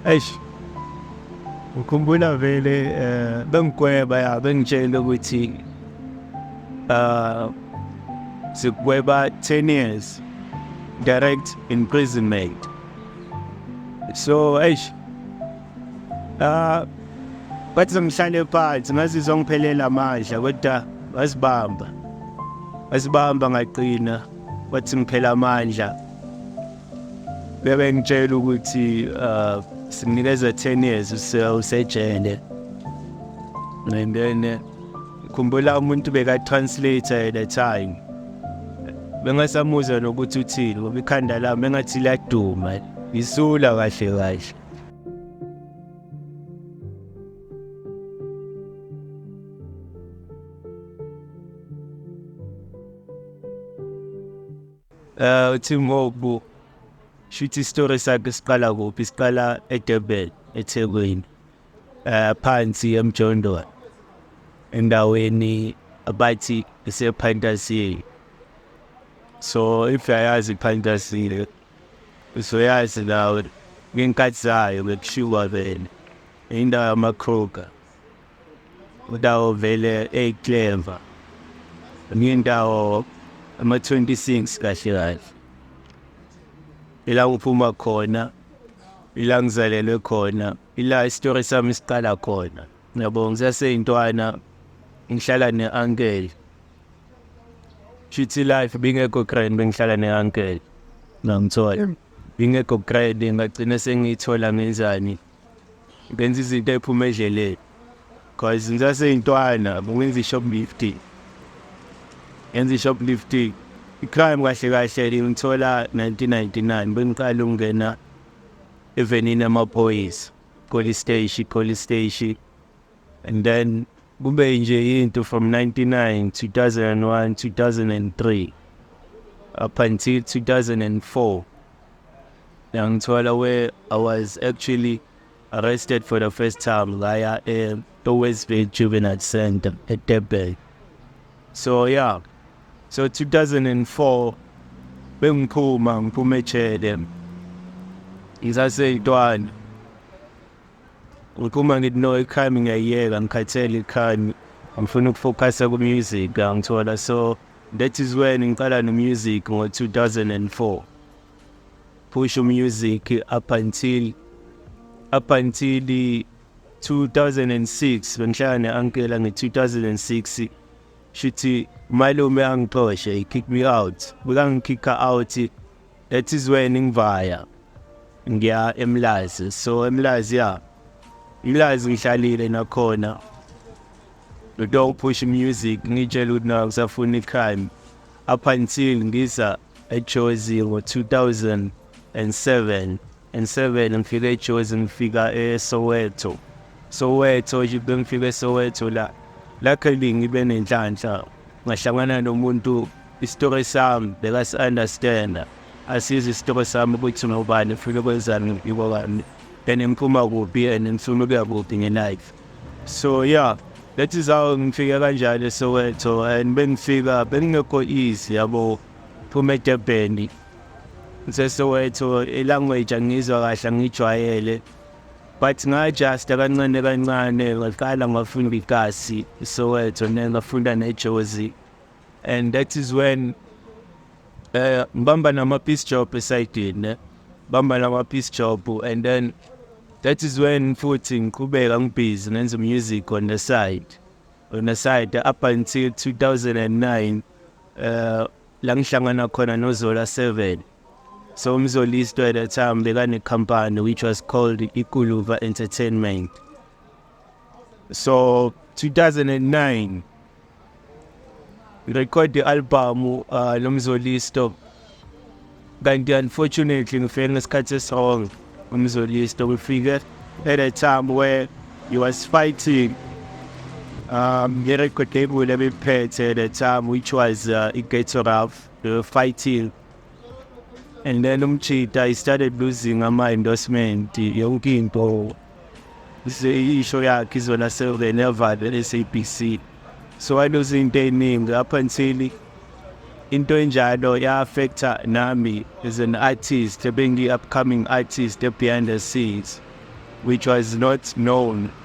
eish ukhumbula vele eh bengikweba ya bengitshela ukuthi uh sikweba 10 years direct imprisonment so eish ah bathi sengihlale phansi ngazizwa ngiphelela amandla kodwa wasibamba wasibamba ngaqina wathi ngiphela amandla Bebe ngitshela ukuthi uh simnikeza 10 years usejele. And then uh, khumbula umuntu beka translator at the time. Bengasamuzwa nokuthi uthini ngoba ikhanda lami engathi liyaduma. Ngisula kahle kahle. Eh uthi ngoku shuthi story sakhe siqala kuphi siqala eDurban eThekwini eh phansi eMjondolo endaweni abathi isePhantasile so if uyayazi iPhantasile uzoyazi nawe ngenkathi zayo bekushiwa vele indawo yamakhoka Udawo vele ey clever. Ngindawo ama 26 kahle kahle. Ila uphuma khona ila ngizalelwe khona ila istory sami siqala khona. Ngiyabonga saseyintwana ngihlala ne uncle. Chithi life bingekho grand bengihlala ne uncle. Ngangithola. Bingekho grand ngagcina sengiyithola ngenzani. ngenza izinto ephuma edleleni cause ngisaseyintwana bengenza i-shoplifting ngenza i-shoplifting i-crime kahle kahle ngithola 1999 bengiqala ukungena evenini amaphoyisa police station police station and then kube nje into from 99 2001 2003 up until 2004 yangithola where i was actually arrested for the first time ngaya e-westville juvenile center edurban so yeah so 2004 bengiphuma ngiphuma ejele ngisaseyintwana Uma ngithi no ikhayimi ngiyayiyeka ngikhathele ikhayimi ngifuna ukufokhasa ku-music angithola so that is when ngiqala no-music ngo-2004 push u-music up until up until 2006 bengihlala ne-ankela nge-2006 shuthi malume angixoshe he kick me out bekangikhikha out ethizweni ngivaya ngiya emlazi so emlazi ya emlazi ngihlalile nakhona ngito push music ngitshela ukuthi naku safuna i-crime up until ngiza ejozi ngo-2007 and 7 ngifika ejozi ngifika esoweto soweto nje bengifika esoweto la lakhe lingibe nenhlanhla ngahlangana nomuntu Isitori sami bekasi-understanda asizi isitori sami ukuthi ngobani funa ukwenzani ngibikwa kani and ngiphuma kuphi and ngifuna ukuya kuphi nge-life so yeah that is how ngifike kanjalo esoweto and bengifika bengingekho easy yabo phuma edebheni ngisesoweto ilanguage angiyizwa kahle angiyijwayele but ngajusta kancane kancane ngaqala ngafunda ikasi isoweto ne ngafunda nejozi and that is when uh, ngibamba nama-piece job esayidini ne bamba nama-piece job and then that is when futhi ngiqhubeka ngibhizi ngenza music on the side on the side up until 2009 uh, la ngihlangana khona nozola 7 so umzolisto at that time bekanekhampani which was called ikuluva entertainment so 2009 record i-album uh, lomzolisto kanti unfortunately ngifike ngesikhathi esirong umzolisto ngifike at a time where he was fighting um, i-record label ebiphethe at a time which was uh, i-gatoraf they were fighting and then umchita he started losing ama-endorsement yonke into isho yakhe izona serenevale le-sabc so waluza into ey'ningi up until into enjalo ya-affecta nami as an artist ebengiyi-upcoming artist e-behind the scenes which was not known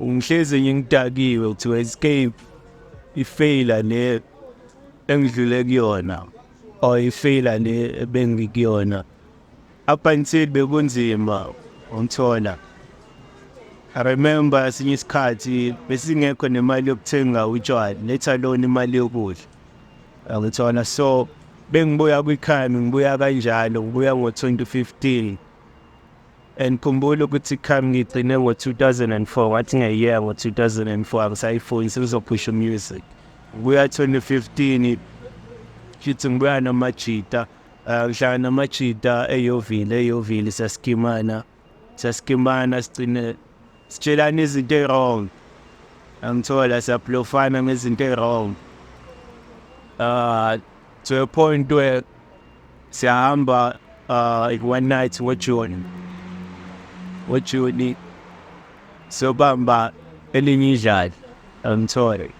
Ungihlezi ngingidakiwe kuthiwa escape ifeyila le engidlule kuyona or ifeyila le bengikuyona up until bekunzima ungithola I remember esinye isikhathi besingekho nemali yokuthenga utshwala let alone imali yokudla angithola so bengibuya kwikhaya ngibuya kanjalo ngibuya ngo-2015 And khumbula ukuthi come ngigcine ngo-2004 wathi ngeyear ngo-2004 angisayifuni sengizophusha umusic kuya 2015 shithi ngibuya namajita eh, ngihlangana namajita eyovile eyovile siyasikimana siyasikimana sigcine sitshelana izinto ey-wrong angithola siyablofana ngezinto ey-wrong um ah, to a point where siyahamba uh, in one night ngojuni ngojuni sobamba elinye idlali angithole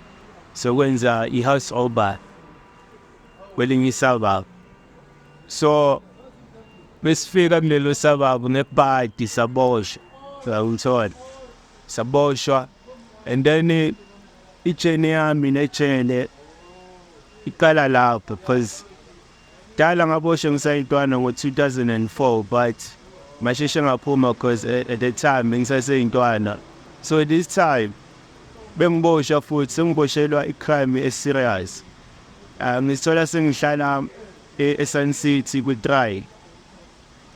sokwenza i-house oba kwelinye isababa so besifika kulelo sababa ngepadi saboshwa ngithole saboshwa and then I-journey yami nejele iqala lapho because dala ngaboshwe ngisayintwana ngo-2004 but masheshe ngaphuma because at the time bengisaseyintwana so this time bengiboshwa futhi sengiboshelwa i-crime e-serious um ngisithola sengihlala e-, e-sun city kwi-try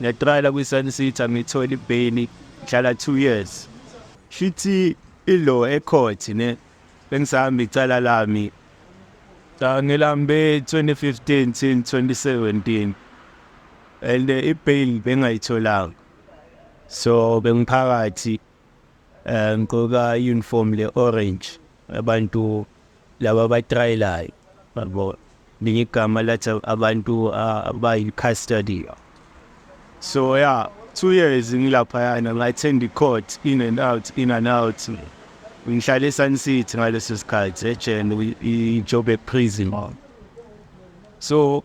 ngiyatrayela kwi-sun city angiyitholi ibheyili ngihlala two years shithi Ilo ecourt ne bengisahamba icala lami cha ngilambe 2015 till 2017 and eh, ibail bengayitholanga so bengiphakathi eh, ngigqoka uniform le orange abantu laba abatrayelayo yabo linye igama lathi abantu ah, abayi-custody so ya two years ngilaphayana ngathenda i-court in and out in and out ngihlale esun city ngaleso sikhathi ejele i-job eprison so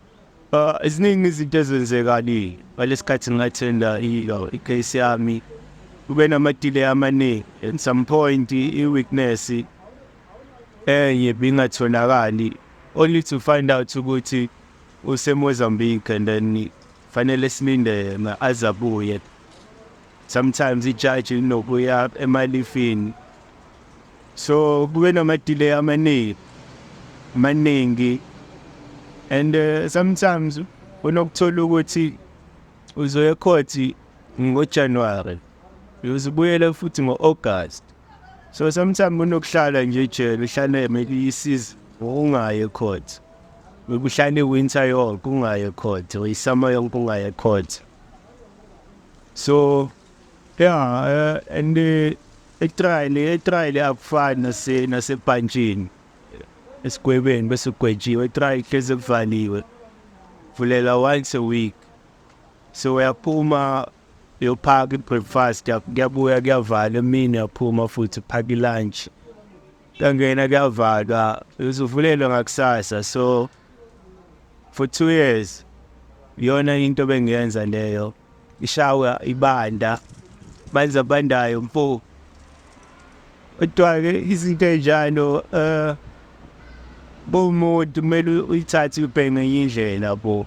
uh, ziningi izinto ezenzekani ngalesi khathi ngingathenda i-case yami kube namadile amaningi at some point i-weakness enye bingatholakali only to find out ukuthi useMozambique and then fanele silinde azabuye sometimes ijaji linokuya emalifini so kube namadile amaningi maningi and uh, sometimes unokuthola ukuthi uzoya ekhothi ngojanuwari uzibuyele futhi ngo-august So sometimes unokuhlala nje ejele uhlale maybe isize ungaye court. Ukuhlale winter yonke ungaye court or isummer yonke ungaye court. So yeah uh, and the etrial etrial akufani nase nasebhantshini esigwebeni bese ugwetshiwe etrial hleze kuvaliwe vulela once a week so uyaphuma uyophaka i-breakfast yakho kuyabuya kuyavala emini yaphuma futhi uphaka i-lunch kuyangena kuyavalwa uzuvulelwe ngakusasa so for two years iyona into bengiyenza leyo ishawa ibanda manzi abandayo mfo kodwa-ke izinto ey'njalo um bomuntu kumele uyithathe uyibheke ngenye indlela bo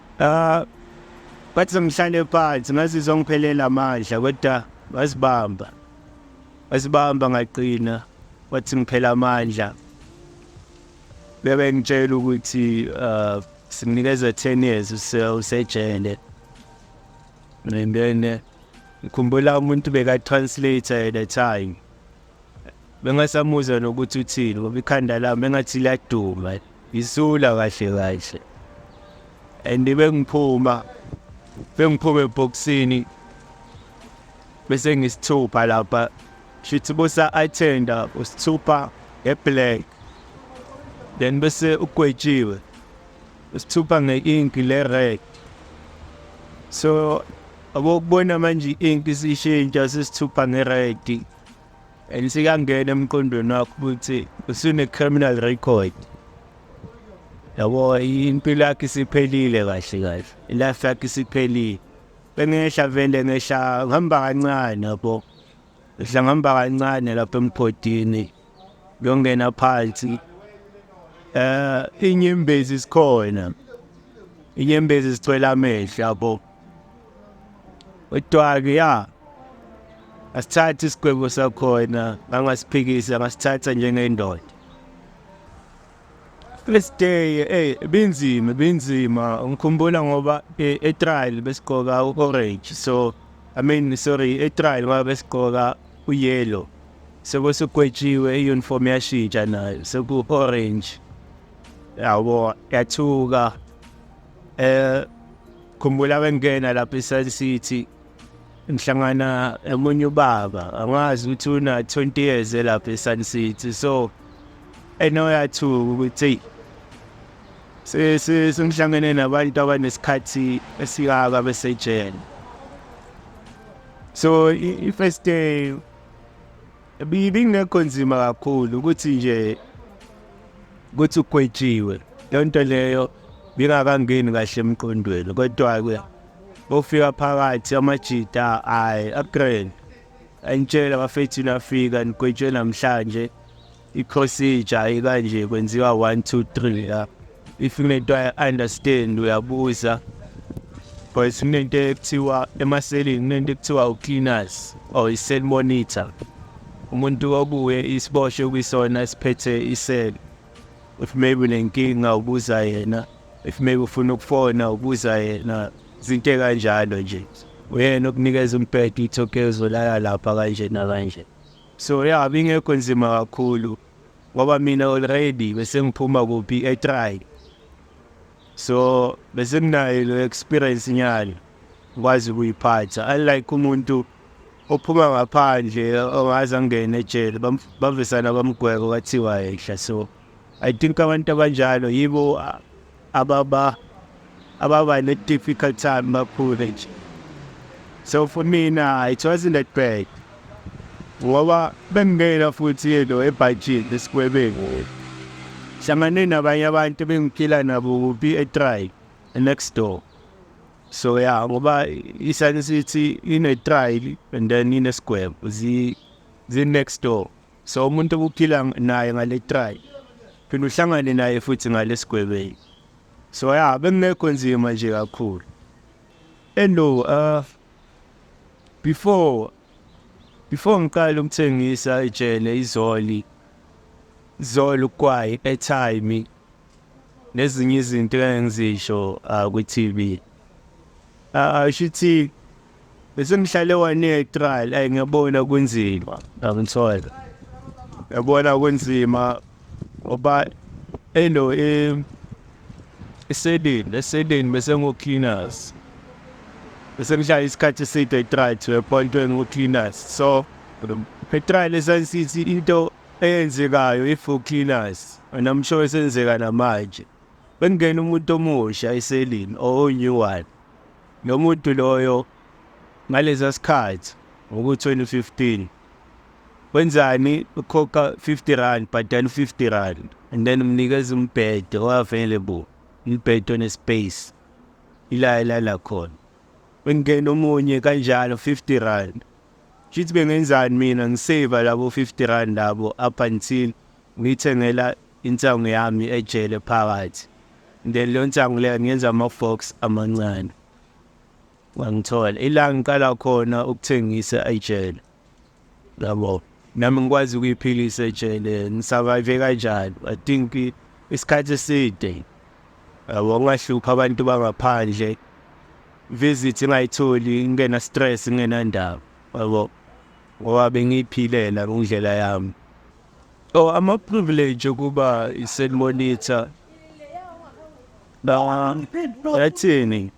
Ah bathi ngihlale phansi ngazizwa ngiphelela amandla kodwa wasibamba wasibamba ngaqina wathi ngiphela amandla bebe ngitshela ukuthi uh simnikeza 10 years usejele and then ngikhumbula umuntu beka translator at the time bengasamuzwa nokuthi uthini ngoba ikhanda lami engathi liyaduma isula kahle kahle and bengiphuma bengiphuma ebhokisini bese ngisithupha lapha shithi bosa attenda usithupha ngeblack then bese ugwetshiwe usithupha nge-ink le-red so abokubona manje i-ink isishintsha sisithupha nge-red elisingangena emqondweni wakho ukuthi usune-criminal record yabo impilo yakhe isiphelile kahle kahle ilife yakhe isiphelile bengehla vele ngehla ngihamba kancane yabo ngehla ngihamba kancane lapha emgodini ngiyongena phansi um inyembezi sikhona inyembezi sicwela amehlo yabo Utwaki ya asithatha isigwebo sakhona angasiphikisa ngasithatha njengendoda first day eh binzima binzima ngikhumbula ngoba eh, e-trial besigqoka u-orange so i mean sorry e-trial ngoba besigqoka u-yellow sekwesugwetshiwe i-uniform yashintsha nayo seku-orange yabo yathuka Eh khumbula bengena lapha eSun City ngihlangana emunye ubaba angazi ukuthi una 20 years lapha eSun City so enoyathuka ukuthi sisi singihlangene nabantu abanesikhathi esikaka besejele so i-first day Ibingekho nzima kakhulu ukuthi nje ukuthi ugwetshiwe leyo nto leyo bingakangeni kahle emqondweni kodwa-ke bofika phakathi amajita ayi agrand angitshela bafethu nafika nigwetshwe namhlanje i-procedure ikanje kwenziwa one two three la if kunento i-understand uyabuza because kunento ekuthiwa emaselini kunento ekuthiwa u-cleaners or i-cell monitor umuntu obuye isiboshwe kwisona esiphethe isele if maybe unenkinga ubuza yena if maybe ufuna ukufona ubuza yena izinto ekanjalo nje uyena okunikeza umbhedo uthi okay uzolala lapha kanje nakanje so ya bingekho nzima kakhulu ngoba mina already bese ngiphuma kuphi etry so bese nginayo lo experience nyalo ngikwazi ukuyiphatha unlike umuntu ophuma ngaphandle ongaze angene ejele bavesana bamgweko kwathiwa ehla so i think abantu abanjalo yibo ababa ababa ne difficult time bakhule nje so for mina it wasn't that bad ngoba bengingena futhi lo ebhajini esikwebeni hlangane nabanye abantu bengiphila nabo kuphi etry next door so ya ngoba isani sithi ine-trial and then inesigwebo zi-next door So umuntu obuphila naye ngale try phela uhlangane naye futhi ngalesigwebeni. So ya bengekho nzima nje kakhulu. Hello uh before before ngiqala ukuthengisa ijele izoli zolo ukwayi airtime nezinye izinto engizisho uh, kwi-TV uh, ah, ah, shuthi Bese ngihlale one year trial ay ngiyabona kunzima ngangithola. Yabona kunzima ngoba elo eh isedini lesedini bese ngo cleaners. Bese ngihlala isikhathi eside etrial to a point when ngo cleaners. So etrial esansithi into eyenzekayo if u cleaners and I'm sure isenzeka namanje. Bengena umuntu omusha eselini or new one. Lo muntu loyo ngalesa sikhathi ngoku-2015 wenzani ukhokha 50 rand bhadala u-50 rand and then umnikeza umbhede o-available umbhede one-space ila elala khona bengingena omunye kanjalo 50 rand shithi bengenzani mina ngiseva labo 50 rand labo up until ngiyithengela Insangu yami ejele phakathi then leyo nsangu leyo ngiyenza ama-box amancane wangithola ila ngiqala khona ukuthengisa ejele yabo nami ngikwazi ukuyiphilisa ejele ngisurvive kanjani i think isikhathi eside yabo ngingahlupha abantu bangaphandle visit ingayitholi ngingena stress ngingenandaba yabo ngoba bengiyiphilela ngindlela yami Oh, I'm a privilege ukuba i-cell monitor. Ba yathini?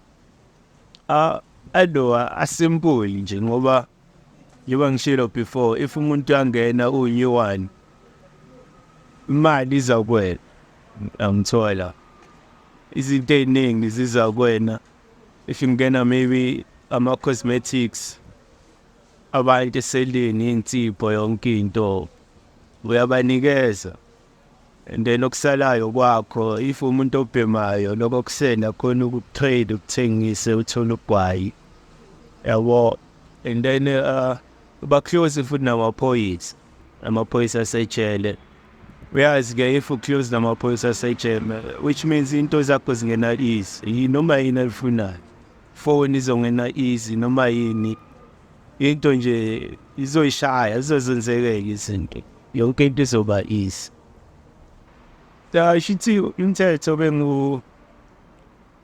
Ah, adoa asimple nje ngoba njengoba ngishilo before if umuntu angena unew one imali iza kwena angithola izinto eziningi ziza kwena if ngingena maybe ama cosmetics Abantu eseleni insipho yonke into uyabanikeza and then okusalayo kwakho if umuntu obhemayo lokho kusena khona ukutrade ukuthengise uthole ugwayi yabo and then uh, baclose futhi namaphoyisa amaphoyisa asejele uyazi ke if uclose namaphoyisa asejele which means into zakho zingena easy noma yini alifunayo Foni izongena easy noma yini into nje izoyishaya izozenzekela izinto yonke into izoba easy shithi umthetho bengu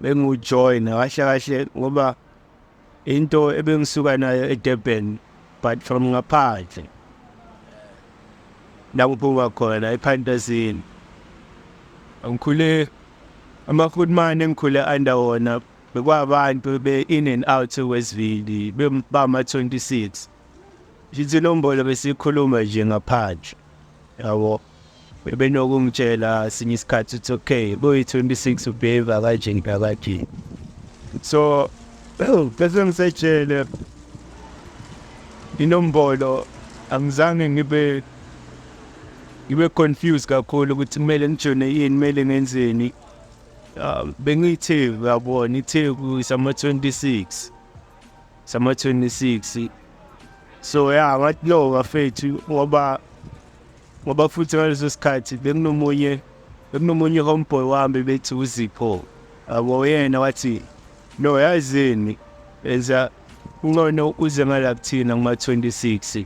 bengujoyina kahle kahle ngoba into ebengisuka nayo eDurban but from ngaphandle la ngiphuma khona ephantazini angikhule amafootman engikhule under wona Bekwabantu be in and out wesivili bama 26. Ngithi nombolo besikhuluma nje ngaphandle. Yabo. Bebenokungitshela sinye isikhathi uthi okay, boy 26 ubheva kanje ngibakathi. So bese ngisejele inombolo angizange ngibe ngibe confused kakhulu ukuthi kumele ngijone yini kumele ngenzeni Ah, bengiyitheku uyabona itheku isama-26 sama-26 so ya ngathi no bafethu ngoba ngoba futhi ngaleso sikhathi bekunomunye bekunomunye homeboy wami bethi uzipho abo yena wathi no yazini enza uncono uze ngala kuthina kuma-26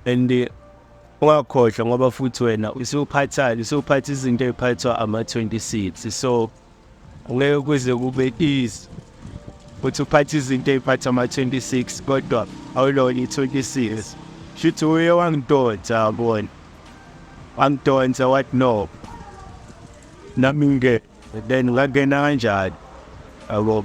and eh, ungakhohlwa ngoba futhi wena usuphathani usuphatha izinto eziphathwa ama-26 so ngeke kuze kube easy ukuthi uphathe izinto eziphatha ama-26 kodwa awulona i-26 shuthi uye wangidonsa yabona wangidonsa what no nami nge then ngangena kanjani yabo